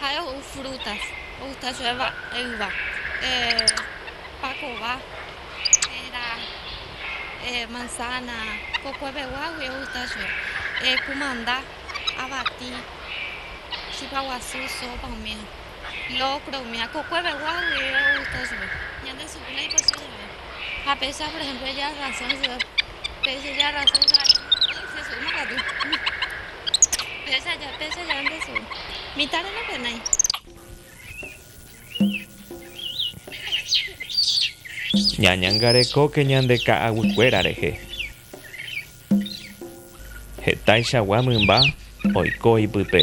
Ha'e ou frutas, ogusta chupe yva, pakova, péra, manzana, kokue peguágui ogusta chupe, kumanda, avati, chipa guasu, sopa omíva, locro omíva, kokue peguágui ogusta chupe. Ñande sukúla ipasión va'erã. Ha péicha, por ehémplo, eja razón chupe. Ñañangarekóke ñande ka'aguykuéra rehe. Hetaichagua mymba oiko ipype.